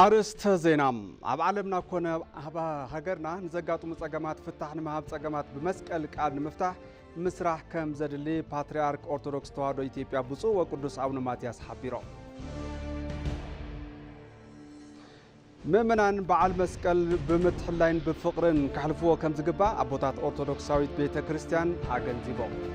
ኣርእስተ ዜና ኣብ ዓለምና ኮነ ኣብ ሃገርና ንዘጋጥሙ ጸገማት ፍታሕ ንምሃብ ጸገማት ብመስቀል ቃል ንምፍታሕ ምስራሕ ከም ዘድሊ ፓትርያርክ ኦርቶዶክስ ተዋህዶ ኢትዮጵያ ብፁዕ ወቅዱስ ኣቡነ ማትያስ ሓቢሮም። ምእመናን በዓል መስቀል ብምትሕላይን ብፍቕርን ከሕልፍዎ ከም ዝግባእ ኣቦታት ኦርቶዶክሳዊት ቤተ ክርስቲያን ኣገንዚቦም።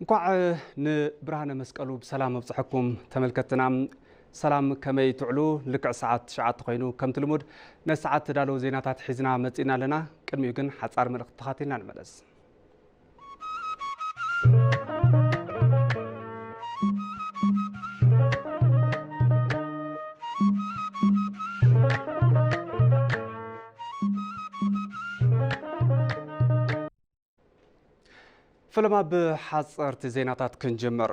እንኳዕ ንብርሃነ መስቀሉ ብሰላም ኣብፀሐኩም ተመልከትና ሰላም ከመይ ትዕሉ ልክዕ ሰዓት ትሽዓተ ኮይኑ ከምቲ ልሙድ ነቲ ሰዓት ተዳለዉ ዜናታት ሒዝና መፂእና ኣለና ቅድሚኡ ግን ሓፃር መልእኽቲ ተኻቲልና ንመለስ ፈለማ ብሓፀርቲ ዜናታት ክንጅምር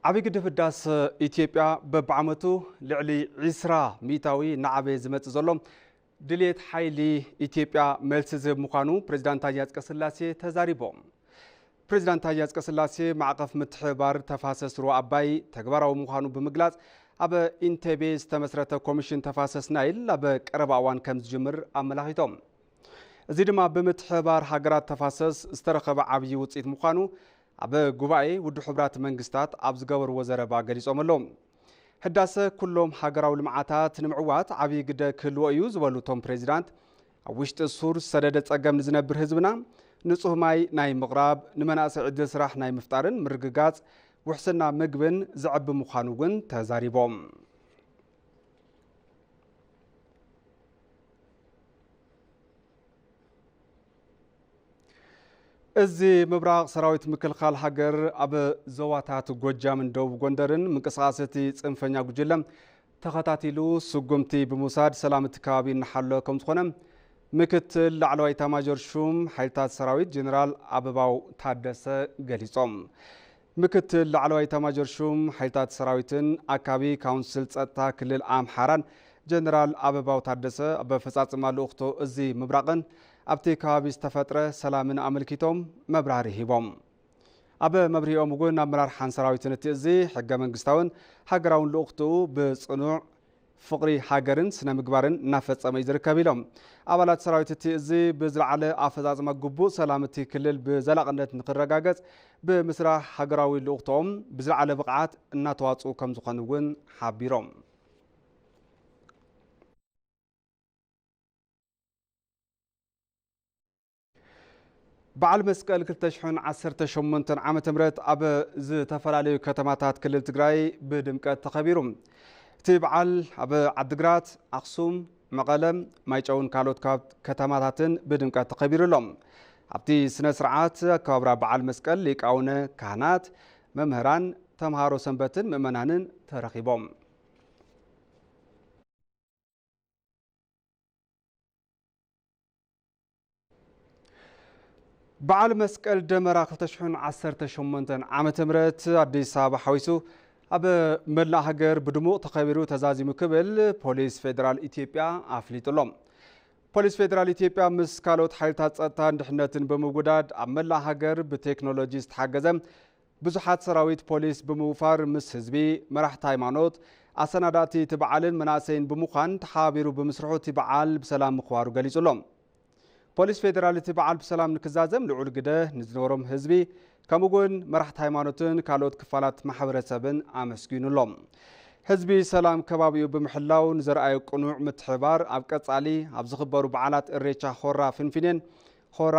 ዓብይ ግድብ ህዳሰ ኢትዮጵያ በብዓመቱ ልዕሊ 20 ሚታዊ እናዓበየ ዝመፅእ ዘሎ ድሌት ሓይሊ ኢትዮጵያ መልሲ ዝህብ ምዃኑ ፕሬዚዳንት ታዬ ኣጽቀሥላሴ ተዛሪቦም። ፕሬዚዳንት ታዬ ኣጽቀሥላሴ ማዕቐፍ ምትሕብባር ተፋሰስ ሩባ ኣባይ ተግባራዊ ምዃኑ ብምግላጽ ኣብ ኢንቴቤ ዝተመስረተ ኮሚሽን ተፋሰስ ናይል ኣብ ቀረባ እዋን ከም ዝጅምር ኣመላኺቶም። እዚ ድማ ብምትሕብባር ሃገራት ተፋሰስ ዝተረኸበ ዓብዪ ውፅኢት ምዃኑ ኣብ ጉባኤ ውድብ ሕቡራት መንግስታት ኣብ ዝገበርዎ ዘረባ ገሊፆም ኣለዉ። ህዳሰ ኩሎም ሃገራዊ ልምዓታት ንምዕዋት ዓብዪ ግደ ክህልዎ እዩ ዝበሉ እቶም ፕሬዚዳንት ኣብ ውሽጢ ሱር ዝሰደደ ፀገም ንዝነብር ህዝብና ንፁህ ማይ ናይ ምቕራብ ንመናእሰይ ዕድል ስራሕ ናይ ምፍጣርን ምርግጋፅ ውሕስና ምግብን ዘዕቢ ምዃኑ እውን ተዛሪቦም። እዚ ምብራቕ ሰራዊት ምክልኻል ሃገር ኣብ ዞባታት ጎጃምን ደቡብ ጎንደርን ምንቅስቓስ እቲ ፅንፈኛ ጉጅለ ተኸታቲሉ ስጉምቲ ብምውሳድ ሰላም እቲ ከባቢ እናሓሎ ከም ዝኾነ ምክትል ላዕለዋይ ኤታማዦር ሹም ሓይልታት ሰራዊት ጀኔራል ኣበባው ታደሰ ገሊፆም። ምክትል ላዕለዋይ ኤታማዦር ሹም ሓይልታት ሰራዊትን ኣካቢ ካውንስል ፀጥታ ክልል ኣምሓራን ጀነራል ኣበባው ታደሰ ኣብ ኣፈፃፅማ ልኡኽቶ እዚ ምብራቕን ኣብቲ ከባቢ ዝተፈጥረ ሰላምን ኣመልኪቶም መብራህርሂ ሂቦም። ኣብ መብርሂኦም እውን ኣመራርሓን ሰራዊትን እቲ እዚ ሕገ መንግስታውን ሃገራውን ልኡኽትኡ ብፅኑዕ ፍቕሪ ሃገርን ስነ ምግባርን እናፈፀመ እዩ ዝርከብ ኢሎም። ኣባላት ሰራዊት እቲ እዚ ብዝለዓለ ኣፈፃፅማ ግቡእ ሰላም እቲ ክልል ብዘላቕነት ንክረጋገፅ ብምስራሕ ሃገራዊ ልኡኽቶኦም ብዝለዓለ ብቕዓት እናተዋፅኡ ከምዝኾኑ እውን ሓቢሮም። በዓል መስቀል ክልተ ሽሕን ዓሰርተ ሸሞንተን ዓመተ ምህረት ኣብ ዝተፈላለዩ ከተማታት ክልል ትግራይ ብድምቀት ተኸቢሩ። እቲ በዓል ኣብ ዓድግራት፣ ኣኽሱም፣ መቐለ፣ ማይጨውን ካልኦት ካብ ከተማታትን ብድምቀት ተኸቢሩ ኣሎ። ኣብቲ ስነ ስርዓት ኣከባብራ በዓል መስቀል ሊቃውነ ካህናት፣ መምህራን፣ ተምሃሮ ሰንበትን ምእመናንን ተረኺቦም። በዓል መስቀል ደመራ 2018 ዓ ም ኣዲስ ኣበባ ሓዊሱ ኣብ መላእ ሃገር ብድሙቕ ተኸቢሩ ተዛዚሙ ክብል ፖሊስ ፌዴራል ኢትዮጵያ ኣፍሊጡ ኣሎ ፖሊስ ፌዴራል ኢትዮጵያ ምስ ካልኦት ሓይልታት ጸጥታን ድሕነትን ብምውዳድ ኣብ መላእ ሃገር ብቴክኖሎጂ ዝተሓገዘ ብዙሓት ሰራዊት ፖሊስ ብምውፋር ምስ ህዝቢ፣ መራሕቲ ሃይማኖት፣ ኣሰናዳእቲ እቲ በዓልን መናእሰይን ብምዃን ተሓባቢሩ ብምስርሑ እቲ በዓል ብሰላም ምኽባሩ ገሊፁ ኣሎ። ፖሊስ ፌዴራል እቲ በዓል ብሰላም ንክዛዘም ልዑል ግደ ንዝነበሮም ህዝቢ ከምኡ እውን መራሕቲ ሃይማኖትን ካልኦት ክፋላት ማሕበረሰብን ኣመስጊኑ ኣሎ። ህዝቢ ሰላም ከባቢኡ ብምሕላው ንዘርኣዮ ቅኑዕ ምትሕብባር ኣብ ቀፃሊ ኣብ ዝኽበሩ በዓላት እሬቻ ሆራ ፊንፊኔን ሆራ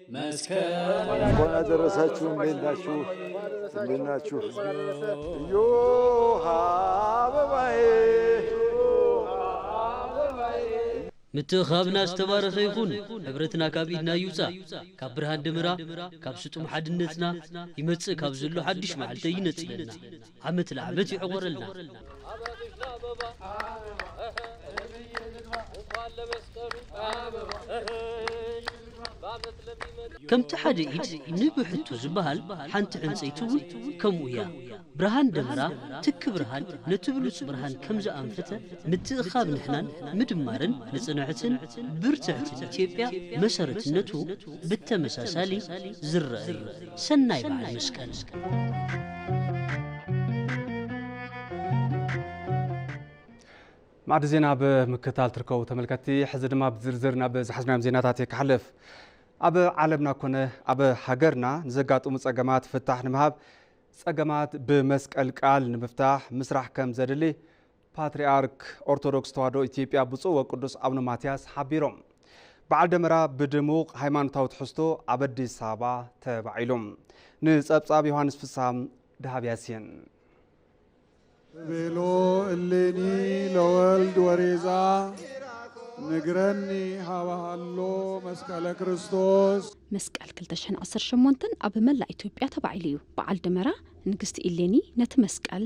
እንኳን አደረሳችሁ። እንዴት ናችሁ? እንዴት ናችሁ? እዮሃ አበባዬ ምትእኻብና ዝተባረኸ ይኹን ሕብረትና ካብ ኢድና ይውፃእ ካብ ብርሃን ደመራ ካብ ስጡም ሓድነትና ይመጽእ ካብ ዘሎ ሓድሽ መዓልተ ይነጽለና ዓመት ልዓመት ይዕቆረልና። ከምቲ ሓደ ኢድ ንብ ሕቱ ዝበሃል ሓንቲ ዕንጸይቲ እውን ከምኡ እያ። ብርሃን ደመራ ትኪ ብርሃን ነቲ ብሉጽ ብርሃን ከም ዝኣንፈተ ምትእኽኻብ ንሕናን ምድማርን ንጽንዕትን ብርትዕትን ኢትዮጵያ መሰረትነቱ ብተመሳሳሊ ዝረኣ እዩ። ሰናይ በዓል ማዕዲ ዜና ኣብ ምክታል ትርከቡ ተመልከቲ ሕዚ ድማ ብዝርዝር ናብ ዝሓዝናዮም ዜናታት እየ ክሓልፍ ኣብ ዓለምና ኮነ ኣብ ሃገርና ንዘጋጥሙ ጸገማት ፍታሕ ንምሃብ ጸገማት ብመስቀል ቃል ንምፍታሕ ምስራሕ ከም ዘድሊ ፓትርያርክ ኦርቶዶክስ ተዋህዶ ኢትዮጵያ ብፁዕ ወቅዱስ ኣቡነ ማትያስ ሓቢሮም። በዓል ደመራ ብድሙቕ ሃይማኖታዊ ትሕዝቶ ኣብ ኣዲስ ኣበባ ተባዒሉ። ንጸብጻብ ዮሃንስ ፍስሃ ድሃብ ያሲን። ቤሎ እሌኒ ለወልድ ወሬዛ ንግረኒ ሃባሃሎ መስቀለ ክርስቶስ መስቀል 2018 ኣብ መላእ ኢትዮጵያ ተባዒሉ እዩ። በዓል ደመራ ንግስቲ ኢሌኒ ነቲ መስቀል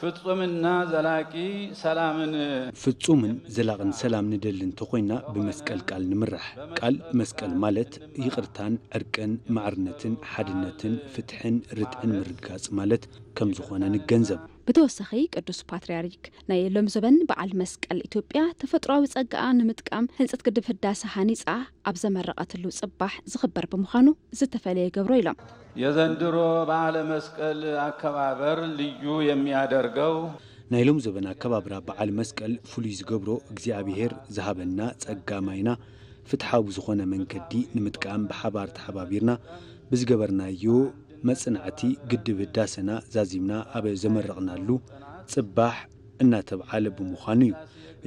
ፍፁምና ዘላቂ ሰላምን። ፍፁምን ዘላቕን ሰላም ንደሊ እንተኾይንና ብመስቀል ቃል ንምራሕ። ቃል መስቀል ማለት ይቕርታን ዕርቅን ማዕርነትን ሓድነትን ፍትሕን ርትዕን ምርግጋፅ ማለት ከምዝኾነ ንገንዘብ። ብተወሳኺ ቅዱስ ፓትርያርክ ናይ ሎምዘበን በዓል መስቀል ኢትዮጵያ ተፈጥሮኣዊ ፀጋኣ ንምጥቃም ህንፀት ግድብ ህዳሰ ሃኒፃ ኣብ ዘመረቐትሉ ፅባሕ ዝኽበር ብምዃኑ ዝተፈለየ ይገብሮ ኢሎም። የዘንድሮ በዓለ መስቀል ኣከባበር ልዩ የሚያደርገው። ናይ ሎም ዘበን ኣከባብራ በዓል መስቀል ፍሉይ ዝገብሮ እግዚኣብሔር ዝሃበና ፀጋ ማይና ፍትሓዊ ብዝኾነ መንገዲ ንምጥቃም ብሓባር ተሓባቢርና ብዝገበርናዮ መፅናዕቲ ግድብ ህዳሰና ዛዚምና ኣብ ዘመረቕናሉ ፅባሕ እናተብዓለ ብምዃኑ ዩ።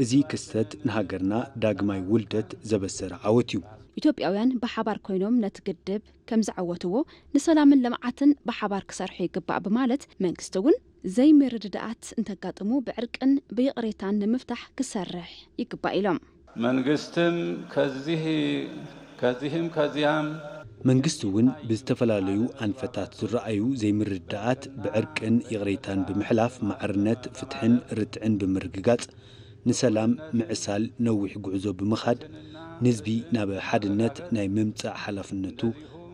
እዚ ክስተት ንሃገርና ዳግማይ ውልደት ዘበሰረ ዓወት ዩ። ኢትዮጵያውያን ብሓባር ኮይኖም ነቲ ግድብ። ከምዝዓወትዎ ንሰላምን ልምዓትን ብሓባር ክሰርሑ ይግባእ ብማለት መንግስቲ እውን ዘይምርድዳኣት እንተጋጥሙ ብዕርቅን ብይቕሬታን ንምፍታሕ ክሰርሕ ይግባእ ኢሎም። መንግስትም ከዚህ ከዚህም ከዚያም። መንግስቲ እውን ብዝተፈላለዩ ኣንፈታት ዝረኣዩ ዘይምርድዳኣት ብዕርቅን ይቕሬታን ብምሕላፍ ማዕርነት፣ ፍትሕን ርትዕን ብምርግጋፅ ንሰላም ምዕሳል ነዊሕ ጉዕዞ ብምኻድ ንዝቢ ናብ ሓድነት ናይ ምምጻእ ሓላፍነቱ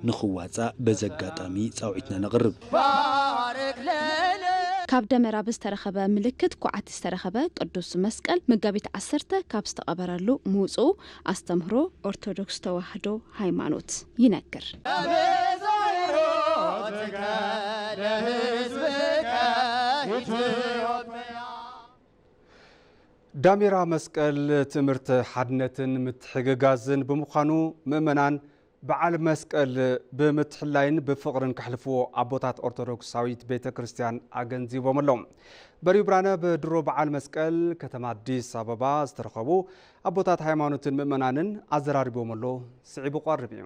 ንኽዋጻእ በዚ ኣጋጣሚ ጻውዒትና ነቕርብ። ካብ ደመራ ብዝተረኸበ ምልክት ኳዕቲ ዝተረኸበ ቅዱስ መስቀል መጋቢት ዓሰርተ ካብ ዝተቐበረሉ ምውፅኡ ኣስተምህሮ ኦርቶዶክስ ተዋህዶ ሃይማኖት ይነግር። ዳሜራ መስቀል ትምህርት ሓድነትን ምትሕግጋዝን ብምዃኑ ምእመናን በዓል መስቀል ብምትሕላይን ብፍቕርን ከሕልፍዎ ኣቦታት ኦርቶዶክሳዊት ቤተ ክርስቲያን ኣገንዚቦም ኣለዉ። በሪሁ ብርሃነ ብድሮ በዓል መስቀል ከተማ ኣዲስ ኣበባ ዝተረኸቡ ኣቦታት ሃይማኖትን ምእመናንን ኣዘራሪቦም ኣሎ። ስዒቡ ቐርብ እዩ።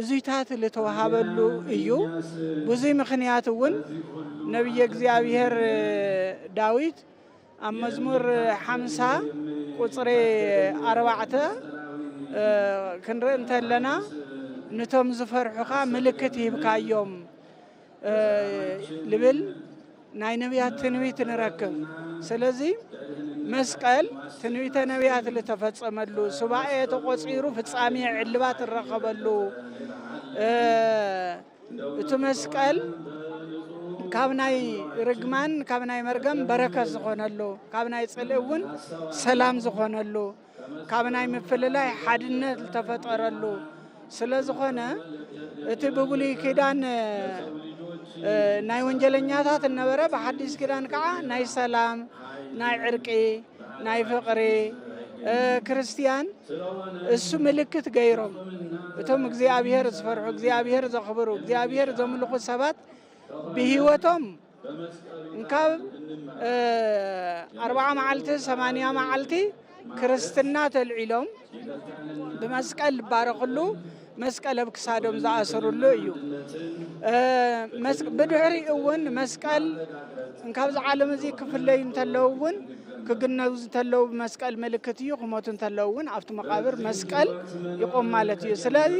እዙይታት ልተወሃበሉ እዩ። ብዙይ ምኽንያት እውን ነቢየ እግዚኣብሔር ዳዊት ኣብ መዝሙር ሓምሳ ቁፅሪ ኣርባዕተ ክንርኢ እንተለና ንቶም ዝፈርሑኻ ምልክት ሂብካዮም ልብል ናይ ነቢያት ትንቢት ንረክብ ስለዚ መስቀል ትንቢተ ነቢያት ዝተፈጸመሉ ሱባኤ ተቆፂሩ ፍጻሜ ዕልባት እረኸበሉ እቲ መስቀል ካብ ናይ ርግማን ካብ ናይ መርገም በረከት ዝኾነሉ ካብ ናይ ፅልኢ እውን ሰላም ዝኾነሉ ካብ ናይ ምፍልላይ ሓድነት ዝተፈጠረሉ ስለ ዝኾነ እቲ ብብሉይ ኪዳን ናይ ወንጀለኛታት እነበረ ብሓዲስ ኪዳን ከዓ ናይ ሰላም ናይ ዕርቂ ናይ ፍቅሪ ክርስትያን እሱ ምልክት ገይሮም እቶም እግዚኣብሔር ዝፈርሑ እግዚኣብሔር ዘኽብሩ እግዚኣብሔር ዘምልኹ ሰባት ብህይወቶም እንካብ ኣርባዓ መዓልቲ ሰማንያ መዓልቲ ክርስትና ተልዒሎም ብመስቀል ዝባረኽሉ መስቀል ኣብ ክሳዶም ዝኣስርሉ እዩ ብድሕሪ እውን መስቀል እንካብዚ ዓለም እዚ ክፍለዩ እንተለዉ እውን ክግነዙ እንተለዉ ብመስቀል ምልክት እዩ ክሞቱ እንተለዉ እውን ኣብቲ መቃብር መስቀል ይቆም ማለት እዩ ስለዚ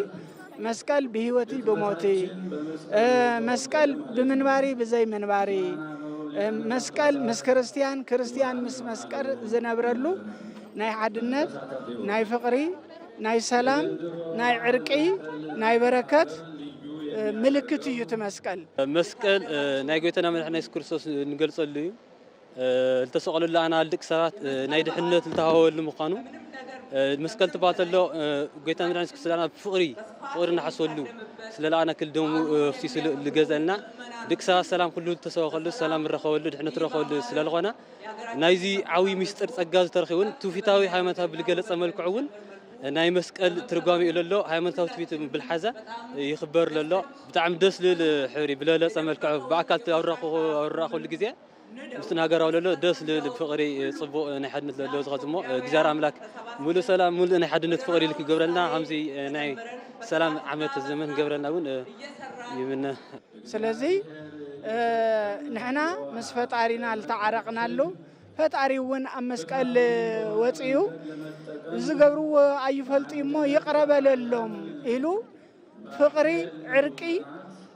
መስቀል ብህይወትይ ብሞትይ መስቀል ብምንባሪ ብዘይ ምንባሪ መስቀል ምስ ክርስትያን ክርስትያን ምስ መስቀል ዝነብረሉ ናይ ሓድነት ናይ ፍቕሪ ናይ ሰላም ናይ ዕርቂ ናይ በረከት ምልክት እዩ እቲ መስቀል መስቀል ናይ ጎይታና መድሕና የሱስ ክርስቶስ ንገልጸሉ እዩ ዝተሰቐለሉ ኣናል ድቂ ሰባት ናይ ድሕነት ዝተሃወሉ ምዃኑ መስቀል ትባል ተሎ ጎይታ መድኃኒት ክርስቶስና ብፍቕሪ ፍቕሪ እናሓስበሉ ስለለኣና ክል ደሙ ፍሲሱ ዝገዘልና ድቂ ሰባት ሰላም ኩሉ ዝተሰበኸሉ ሰላም ረኸበሉ ድሕነት ረኸበሉ ስለዝኾነ ናይዚ ዓብዪ ምስጢር ጸጋ ዝተረኺ እውን ትውፊታዊ ሃይማኖታዊ ብዝገለጸ መልክዑ እውን ናይ መስቀል ትርጓሜ እዩ ለሎ ሃይማኖታዊ ትውፊት ብልሓዘ ይኽበር ለሎ ብጣዕሚ ደስ ልብል ሕብሪ ብለለጸ መልክዑ ብኣካል ኣብራኸሉ ግዜ ምስቲ ንሃገራዊ ለሎ ደስ ልብል ፍቕሪ ጽቡቕ ናይ ሓድነት ለሎ ዝኸዝሞ እግዚኣብሔር ኣምላክ ሙሉእ ሰላም ሙሉእ ናይ ሓድነት ፍቕሪ ኢሉ ክገብረልና ከምዚ ናይ ሰላም ዓመት ዘመን ክገብረልና እውን ይምነ። ስለዚ ንሕና ምስ ፈጣሪና ዝተዓረቕናሉ ፈጣሪ እውን ኣብ መስቀል ወፅኡ ዝገብርዎ ኣይፈልጡ እሞ ይቕረ በለሎም ኢሉ ፍቕሪ ዕርቂ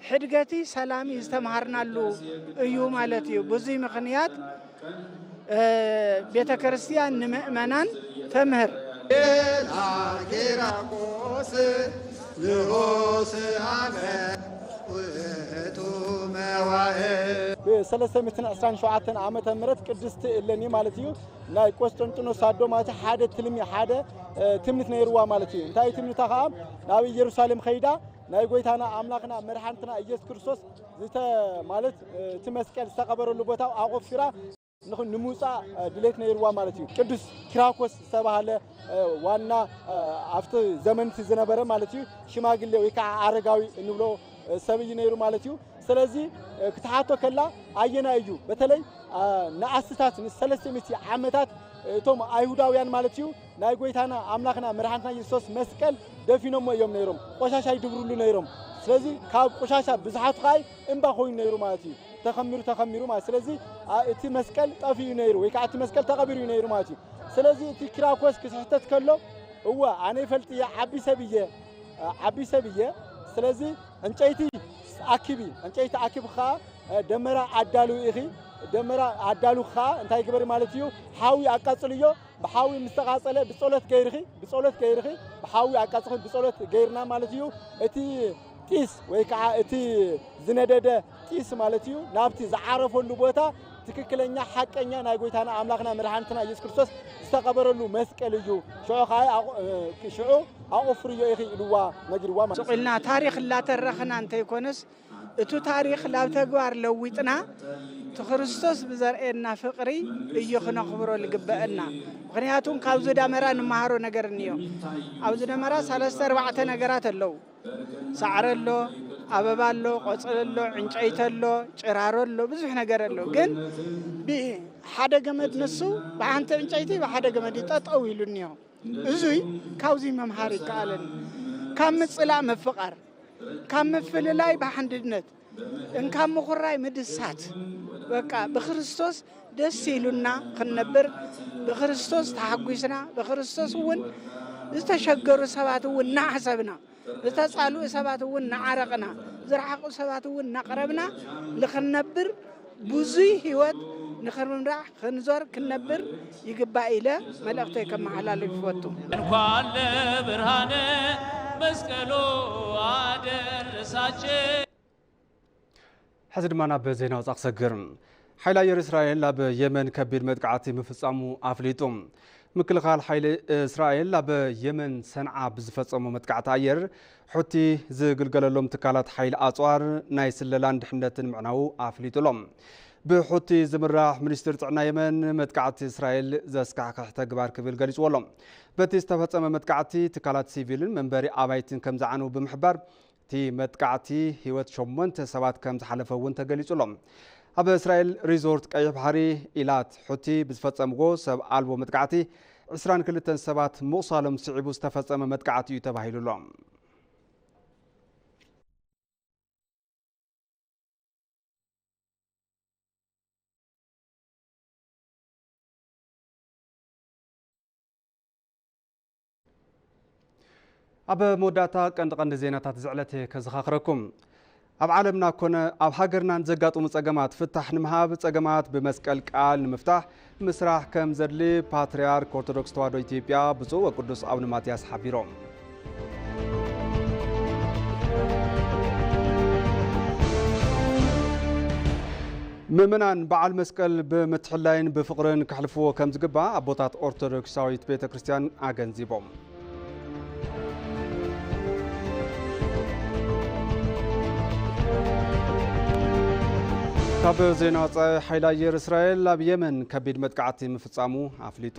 ሕድገቲ ሰላሚ ዝተምሃርናሉ እዩ ማለት እዩ። ብዙይ ምኽንያት ቤተ ክርስቲያን ንምእመናን ተምህር። ብሰለስተ ሚእትን ዕስራን ሸውዓተን ዓመተ ምህረት ቅድስቲ እለኒ ማለት እዩ ናይ ቆስጠንጢኖስ ኣዶ ማለት ሓደ ትልሚ ሓደ ትምኒት ነይርዋ ማለት እዩ እንታይ ትምኒታ ከዓ ናብ ኢየሩሳሌም ኸይዳ ናይ ጎይታና ኣምላኽና መድሓንትና ኢየሱስ ክርስቶስ ዝተ ማለት እቲ መስቀል ዝተቐበረሉ ቦታ ኣቆፊራ ንምውፃእ ድሌት ነይርዋ ማለት እዩ ቅዱስ ኪራኮስ ዝተባሃለ ዋና ኣብቲ ዘመን እቲ ዝነበረ ማለት እዩ ሽማግሌ ወይ ከዓ ኣረጋዊ እንብሎ ሰብ እዩ ነይሩ ማለት እዩ ስለዚ ክትሓቶ ከላ ኣየና እዩ በተለይ ንኣስታት ንሰለስተ ሚእቲ ዓመታት እቶም ኣይሁዳውያን ማለት እዩ ናይ ጎይታና ኣምላኽና መድሓኒትና የሱስ መስቀል ደፊኖሞ እዮም ነይሮም ቆሻሻ ይድብርሉ ነይሮም ስለዚ ካብ ቆሻሻ ብዝሓቱ ከዓ እምባ ኮይኑ ነይሩ ማለት እዩ ተኸሚሩ ተኸሚሩ ማለት ስለዚ እቲ መስቀል ጠፊኡ ነይሩ ወይ ከዓ እቲ መስቀል ተቐቢሩ ነይሩ ማለት እዩ ስለዚ እቲ ኪራኮስ ክስሕተት ከሎ እወ ኣነ ይፈልጥ እየ ዓቢ ሰብ እየ ዓቢ ሰብ እየ ስለዚ ዕንጨይቲ ኣኪቢ ዕንጨይቲ ኣኪብ ከዓ ደመራ ኣዳልው ኢኺ ደመራ ኣዳሉ ከዓ እንታይ ግበሪ ማለት እዩ ሓዊ ኣቃፅልዮ ብሓዊ ምስ ተቓጸለ ብጸሎት ገይርኺ ብጸሎት ገይርኺ ብሓዊ ኣቃጽኺ ብጸሎት ገይርና ማለት እዩ እቲ ጢስ ወይ ከዓ እቲ ዝነደደ ጢስ ማለት እዩ ናብቲ ዝዓረፈሉ ቦታ ትክክለኛ ሓቀኛ ናይ ጎይታና ኣምላኽና መድሓኒትና ኢየሱስ ክርስቶስ ዝተቐበረሉ መስቀል እዩ ሽዑ ከዓ ኣቑ- እ፣ ሽዑ ኣቑፍርዮ ኢኺ ኢልዋ ነጊርዋ ማለት እዩ ሱቂልና ታሪክ እላተረክና እንተይኮነስ እቱ ታሪኽ ላብ ተግባር ለዊጥና ትክርስቶስ ብዘርእየና ፍቅሪ እዩ ክነኽብሮ ልግበእና ምክንያቱም ካብዙ ዳመራ ንመሃሮ ነገር እንዮ ኣብዚ ደመራ ሰለስተ ኣርባዕተ ነገራት ኣለው ሳዕረ ኣሎ ኣበባ ኣሎ ቆፅሊ ኣሎ ዕንጨይቲ ኣሎ ጭራሮ ኣሎ ብዙሕ ነገር ኣሎ ግን ሓደ ገመድ ንሱ ብሓንቲ ዕንጨይቲ ብሓደ ገመድ ጠጠው ኢሉ እኒሆ እዙይ ካብዙይ መምሃር ይከኣለኒ ካብ ምፅላእ ምፍቃር ካብ ምፍልላይ ብሓንድነት እንካብ ምኹራይ ምድሳት በቃ ብክርስቶስ ደስ ኢሉና ክንነብር ብክርስቶስ ተሓጒስና ብክርስቶስ እውን ዝተሸገሩ ሰባት እውን እናሓሰብና ዝተፃልኡ ሰባት እውን እናዓረቕና ዝረሓቑ ሰባት እውን እናቕረብና ንክንነብር ብዙይ ህይወት ንክንምራሕ ክንዞር ክንነብር ይግባእ ኢለ መልእኽተይ ከመሓላልፍ ይፈቱ። እንኳን ለብርሃነ መስቀሉ ኣደረሳቸ። ሕዚ ድማ ናብ ዜና ወፃ ክሰግር ሓይሊ ኣየር እስራኤል ኣብ የመን ከቢድ መጥቃዕቲ ምፍፃሙ ኣፍሊጡ ምክልኻል ሓይሊ እስራኤል ኣብ የመን ሰንዓ ብዝፈፀሞ መጥቃዕቲ ኣየር ሑቲ ዝግልገለሎም ትካላት ሓይሊ ኣጽዋር ናይ ስለላን ድሕነትን ምዕናዉ ኣፍሊጡ ኣሎ። ብሑቲ ዝምራሕ ሚኒስትሪ ጥዕና የመን መጥቃዕቲ እስራኤል ዘስካሕክሕ ተግባር ክብል ገሊጽዎ ኣሎ። በቲ ዝተፈጸመ መጥቃዕቲ ትካላት ሲቪልን መንበሪ ኣባይትን ከም ዝዓነው ብምሕባር እቲ መጥቃዕቲ ህይወት ሸሞንተ ሰባት ከም ዝሓለፈ እውን ተገሊጹ ኣሎ። ኣብ እስራኤል ሪዞርት ቀይሕ ባሕሪ ኢላት ሑቲ ብዝፈጸምዎ ሰብ ኣልቦ መጥቃዕቲ ዕስራን ክልተን ሰባት ምቑሳሎም ስዒቡ ዝተፈጸመ መጥቃዕቲ እዩ ተባሂሉ'ሎ። ኣብ መወዳእታ ቀንዲ ቀንዲ ዜናታት ዝዕለተ ከዘኻኽረኩም። ኣብ ዓለምና ኮነ ኣብ ሃገርና ንዘጋጥሙ ጸገማት ፍታሕ ንምሃብ ጸገማት ብመስቀል ቃል ንምፍታሕ ምስራሕ ከም ዘድሊ ፓትርያርክ ኦርቶዶክስ ተዋህዶ ኢትዮጵያ ብፁዕ ወቅዱስ ኣቡነ ማትያስ ሓቢሮም። ምእመናን በዓል መስቀል ብምትሕላይን ብፍቕርን ከሕልፍዎ ከም ዝግባእ ኣቦታት ኦርቶዶክሳዊት ቤተ ክርስቲያን ኣገንዚቦም። ካብ ዜና ወፃኢ ሓይሊ ኣየር እስራኤል ኣብ የመን ከቢድ መጥቃዕቲ ምፍፃሙ ኣፍሊጡ።